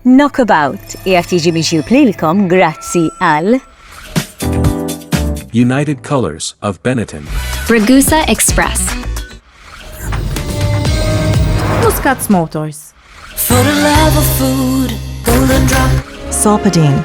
Knockabout qiegħed jiġi miġjub lilkom grazzi għal. United Colours of Benetton. Ragusa Express. Muscats Motors. For the love of food, golden drop. Sopadine.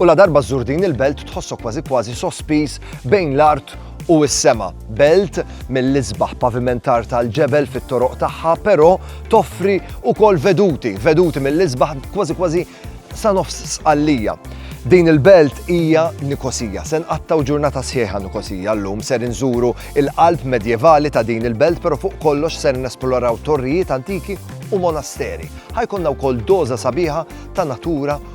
U ladarba żżur din il-belt tħossok kważi kważi sospiż bejn l-art u s-sema. Belt mill-isbaħ pavimentar tal-ġebel fit-toroq tagħha, però toffri wkoll veduti, veduti mill-isbaħ kważi kważi sa nofs sqallija. Din il-belt hija Nikosija. Se nqattaw ġurnata sħiħa Nikosija llum ser inżuru il-qalb medjevali ta' din il-belt, però fuq kollox ser nesploraw torrijiet antiki u monasteri. Ħajkonna wkoll doża sabiħa ta' natura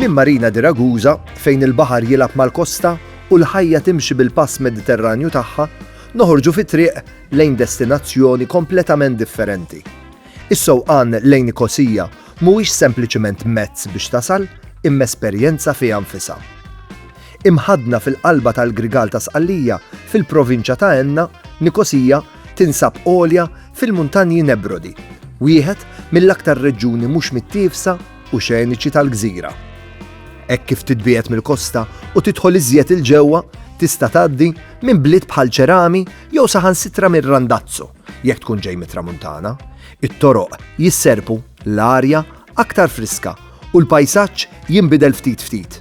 Minn Marina di Ragusa, fejn il-baħar jilgħab mal-kosta u l-ħajja timxi bil-pass Mediterranju tagħha, noħorġu fi triq lejn destinazzjoni kompletament differenti. Is-sewqan lejn Nikosija mhuwiex sempliċement mezz biex tasal, imma esperjenza fiha nfisha. Imħaddna fil-qalba tal-Grigal ta' Sqallija, fil-provinċja ta' Enna, Nikosija tinsab għolja fil-Muntanji Nebrodi, wieħed mill-aktar reġjuni mhux mittiefsa u xeniċi tal-gżira. Hekk kif titbiegħed mill-kosta u tidħol iżjed 'il ġewwa, tista' tgħaddi minn bliet bħal Cerami jew saħansitra minn Randazzo, jekk tkun ġej mit-Tramuntana. It-toroq jisserrpu, l-arja aktar friska u l-pajsaġġ jinbidel ftit ftit.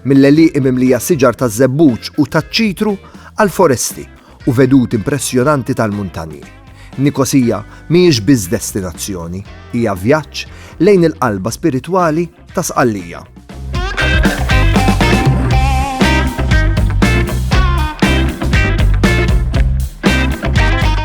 mill-għelieqi mimlija siġar taż-żebbuġ u taċ-ċitru għall-foresti u veduti impressjonanti tal-muntanji, Nikosija mhijiex biss destinazzjoni, hija vjaġġ lejn il-qalba spiritwali ta' Sqallija.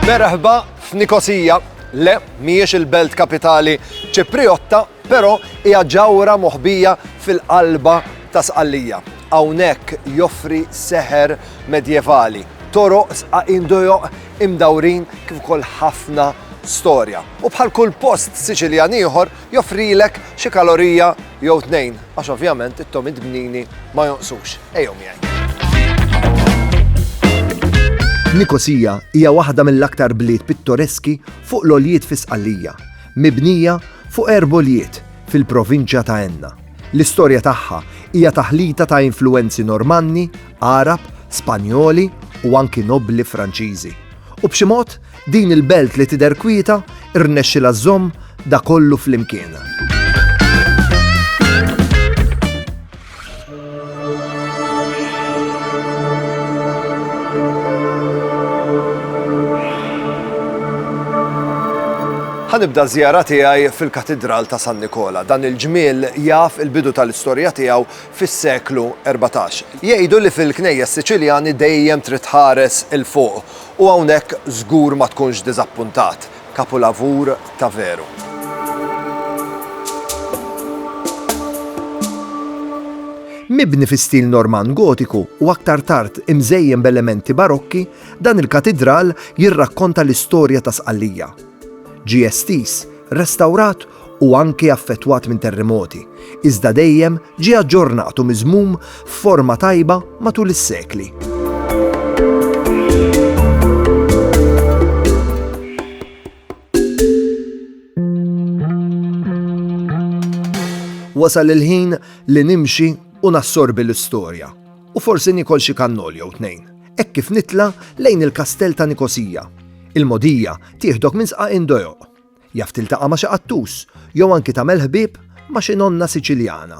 Merħba f'Nikosija, le, mhijiex il-belt kapitali Ċiprijotta, Però hija ġawhra moħbija fil-qalba ta' Sqallija. Hawnhekk joffri seħer medjevali, toroq sqaqin dojoq imdawrin kif ukoll ħafna storja. U bħal kull post Siċiljan ieħor joffrilek xi kalorija jew tnejn għax ovvjament it-tomit bnini ma jonqsux. Ejjew miegħi. Nikosija hija waħda mill-aktar bliet pittoreski fuq l-għoljiet fi Sqallija Mibnija fuq erboljiet fil-provinċja ta' Enna, l-istorja tagħha hija taħlita ta' influwenzi Normanni, Għarab, Spanjoli u anki nobbli Franċiżi. U b'xi mod, din il-belt li tidher kwieta rnexxilha żżomm da kollu flimkien. Ħa nibda ż-żjara tiegħi fil-Katidral ta' San Nikola. Dan il-ġmiel jaf il-bidu tal-istorja tiegħu fis-seklu erbatax. Jgħidu li fil-knejjes Siċiljani dejjem trid tħares 'il fuq u hawnhekk żgur ma tkunx diżappuntat. Kapulavur ta' veru. Mibni fi stil Normann Gotiku u aktar tard imżejjen b'elementi Barokki, dan il-katidral jirrakkonta l-istorja ta' Sqallija. Ġie estiż, restawrat u anki affettwat minn terremoti, iżda dejjem ġie aġġornat u miżmum f'forma tajba matul is-sekli. Wasal il-ħin li nimxi u nassorbi l-istorja u forsi nikol xi kannol jew tnejn. Hekk kif nitla lejn il-kastell ta' Nikosija. Il-modija tieħdok minn sqa indojoq. Jaf tiltaqa' ma' xi qattus, jew anki tagħmel ħbieb ma' xi nonna Siċiljana.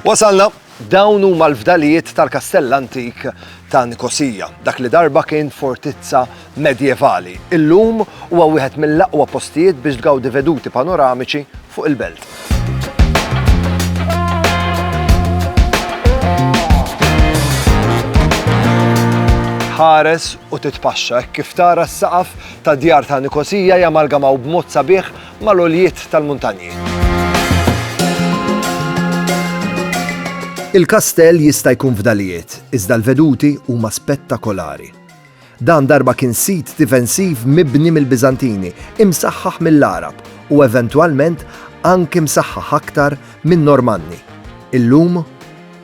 Wasalna, dawn huma l-fdalijiet tal-kastell antik ta' Nikosija, dak li darba kien fortizza medjevali. Illum huwa wieħed mill-aqwa postijiet biex tgawdi veduti panoramiċi fuq il-belt. tħares u titpaxxa kif tara s-saqaf ta' djar ta' Nikosija jamalgamaw b'mod sabiħ mal-oljiet tal-muntanji. Il-kastell jista' jkun fdalijiet, iżda l-veduti huma spettakolari. Dan darba kien sit difensiv mibni mill-Biżantini, imsaħħaħ mill-Għarab u eventwalment anki msaħħaħ aktar min-Normanni. Illum,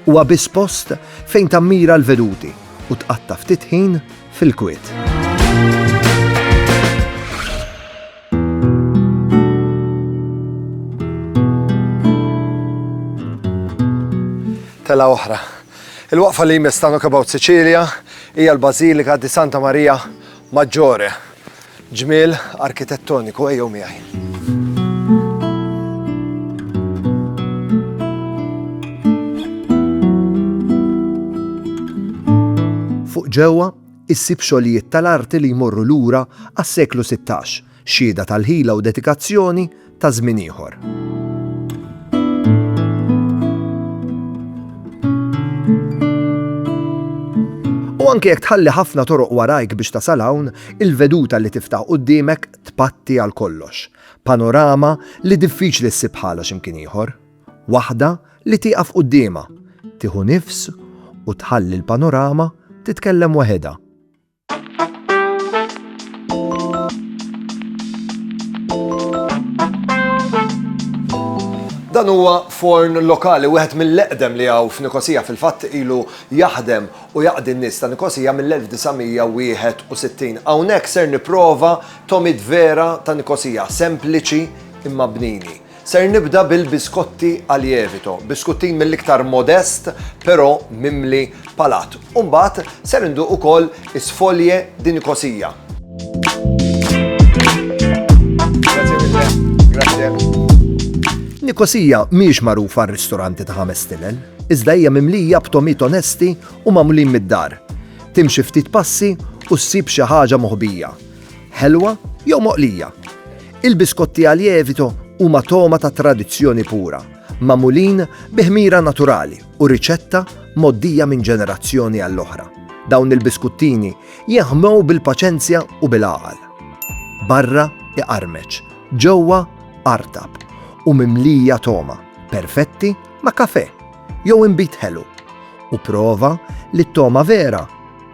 huwa biss post fejn tammira l-veduti u tqatta' ftit ħin fil-kwiet. Telgħa oħra. Il-waqfa li jmiss ta' Knockabout Sicilia hija l-Bażilika di Santa Maria Maggiore. Ġmiel arkitettoniku ejjew miegħi. Fuq ġewwa issib xogħlijiet tal-arti li jmorru lura għas-seklu 16, Xhieda tal-ħila u dedikazzjoni ta' żmien ieħor. U anke jekk tħalli ħafna toroq warajk biex tasal hawn, il-veduta li tiftaħ quddiemek tpatti għal kollox. Panorama li diffiċli ssib bħalha x'imkien ieħor. Waħda li tieqaf quddiema, tieħu nifs u tħalli l-panorama titkellem waħedha. Dan huwa forn lokali wieħed mill-eqdem li hawn f'Nikosija fil-fatt ilu jaħdem u jaqdi n-nies ta' Nikosija mill-1961. Hawnhekk ser nipprova tomid vera ta' Nikosija, sempliċi imma bnini. Ser nibda bil-biskotti Alievito, biskuttin mill-iktar modest però mimli palat. U mbagħad ser induq ukoll is-sfoglie di Nicosia. Nicosia mhijiex magħrufa għar-ristoranti ta' ħames stilel, iżda hija mimlija b'tomit onesti u magħmulin mid-dar. Timxi ftit passi u ssib xi ħaġa moħbija. Ħelwa jew moqlija? Il-biskotti għal lievito huma togħma ta' tradizzjoni pura, magħmulin bi ħmira naturali u riċetta mgħoddija minn ġenerazzjoni għall-oħra. Dawn il-biskuttini jinħmew bil-paċenzja u bil-għaqal. Barra iqarmeċ, ġewwa artab u mimlija togħma, perfetti ma' kafe jew inbit ħelu. U prova li t-togħma vera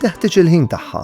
teħtieġ il-ħin tagħha.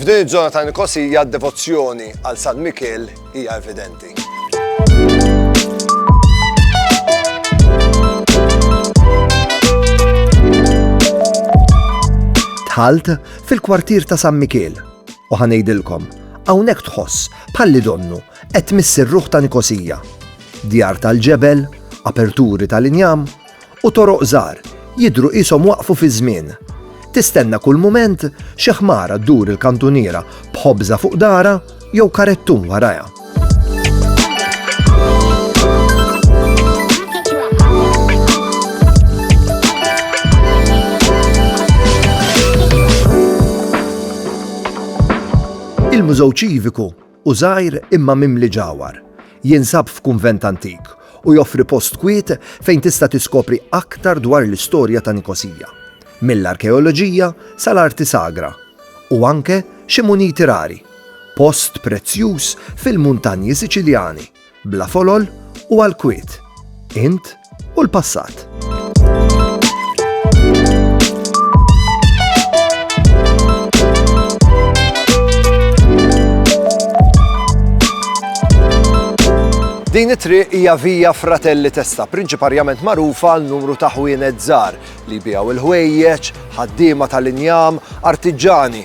F'din iż-żona ta' Nikosija d-devozzjoni għal San Mikiel hija evidenti. Tħalt fil-kwartier ta' San Mikiel u ħanejdilkom hawnhekk tħoss bħalli donnu Qed tmiss ir-ruħ ta' Nikosija, djar tal-ġebel, aperturi tal-injam, u toroq żgħar, jidhru qishom waqfu fiż-żmien. Tistenna kull mument xi ħmara ddur il-kantuniera b'ħobża fuq darha jew karettun warajha. Il-Mużew Ċiviku Hu żgħir imma mimli ġawhar. Jinsab f'kunvent antik u joffri post kwiet fejn tista' tiskopri aktar dwar l-istorja ta' Nikosija, mill-arkeoloġija sal-arti sagra, u anke xi muniti rari, post prezzjuż fil-muntanji Siċiljani. bla folol u għall-kwiet, int u l-passat. Din it-triq hija vija Fratelli Testa, prinċiparjament magħrufa għal numru ta' ħwienet żgħar li bijaw il-ħwejjeġ, ħaddiema tal-injam, artiġani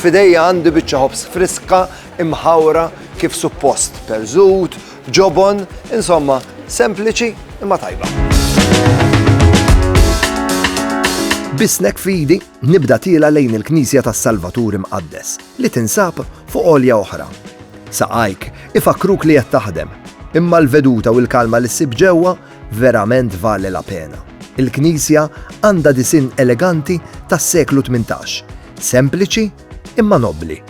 F'idejja għandi biċċa ħobż friska imħawra kif suppost, perżut, ġobon, insomma, sempliċi imma tajba. Bisnek fidi nibda tiela lejn il-Knisja tas-Salvatur Imqaddes li tinsab fuq olja oħra. Saqajk ifakruk li qed taħdem, imma l-veduta u l-kalma li ssib ġewwa verament vale la pena. Il-Knisja għandha disin eleganti tas-seklu 18 Sempliċi imma nobbli.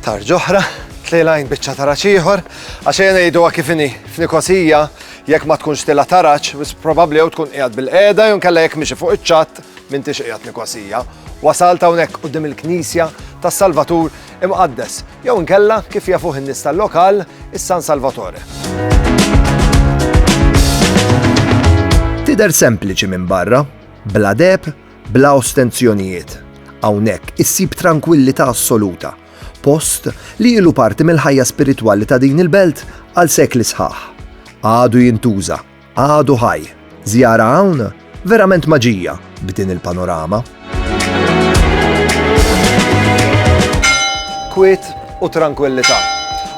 Tarġoħra, tlejlajn bieċa taraċ ieħor, għax jena jgħidu kif inhi f'Nikosija jekk ma tkunx tila taraċ, bis probabbli jew tkun qiegħed bil-qiegħda jew kalla jekk miexi fuq iċ-ċatt minn tix qiegħed Nikosija. Wasalt hawnhekk qudiem il-Knisja tas-Salvatur Imqaddes, jew inkella, kif jafuh in-nies tal-lokal, is-San Salvatore. Tidher sempliċi minn barra, bla deb, bla ostenzjonijiet. Hawnhekk issib trankwillità assoluta, post li ilu parti mill-ħajja spiritwali ta' din il-belt għal sekli sħaħ. Għadu jintuża Għadu ħaj! Żjara hawn? Verament maġija b'din il-panorama. Kwiet u tranquillità.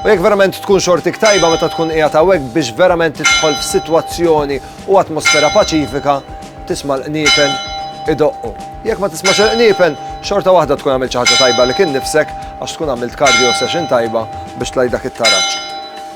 U jekk verament tkun xortik tajba meta tkun qiegħed hawnhekk biex verament tidħol f'sitwazzjoni u atmosfera paċifika, tisma' l-qniepen idoqqu. Jekk ma tismax il-qniepen, xorta waħda tkun għamilt xi ħaġa tajba li kien nifsek għax tkun għamilt cardio session tajba biex tlajdak it-taraġġ.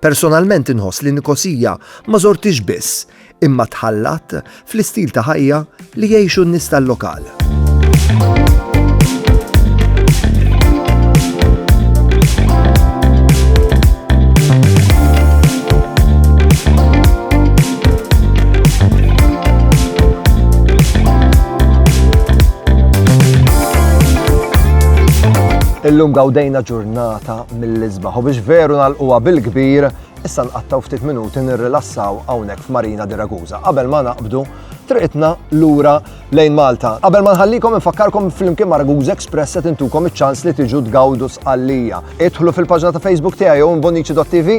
Personalment inħoss li Nikosija ma żorthiex biss, imma tħallat fl-istil ta' ħajja li jgħixu n-nies tal-lokal. Illum gawdejna ġurnata mill-isbaħ u biex veru nagħlquha bil-kbir, issa nqattgħu ftit minuti nirrilassaw hawnhekk f'Marina di Ragusa qabel ma naqbdu triqitna lura lejn Malta. Qabel ma nħallikom infakkarkom flimkien ma' Ragusa Express qed intukom iċ-ċans li tiġu tgawdu sqallija. Idħlu fil-paġna ta' Facebook tiegħi jew imbonici.tv,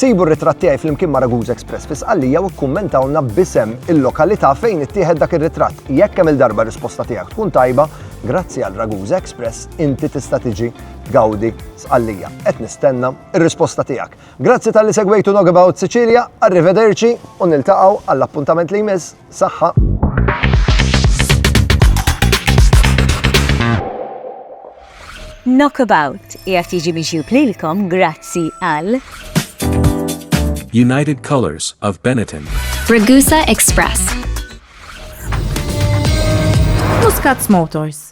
sibu r-ritratt tiegħi flimkien ma' Ragusa Express fi sqallija u kkummentawna bisem il-lokalità fejn ittieħed dak ir-ritratt. Jekk hemm il-darba risposta tiegħek tkun tajba, grazzi għal Ragusa Express inti tista' tiġi Gawdi, Sqallija. Qed nistenna r-risposta tiegħek. Grazzi tal-li segwejtu Nog About Sicilia, arrivederci u niltaqgħu għall-appuntament li jmiss. Saħħa! Knockabout jgħat jiġi miġjub lilkom grazzi għal United Colors of Benetton Ragusa Express Muscats Motors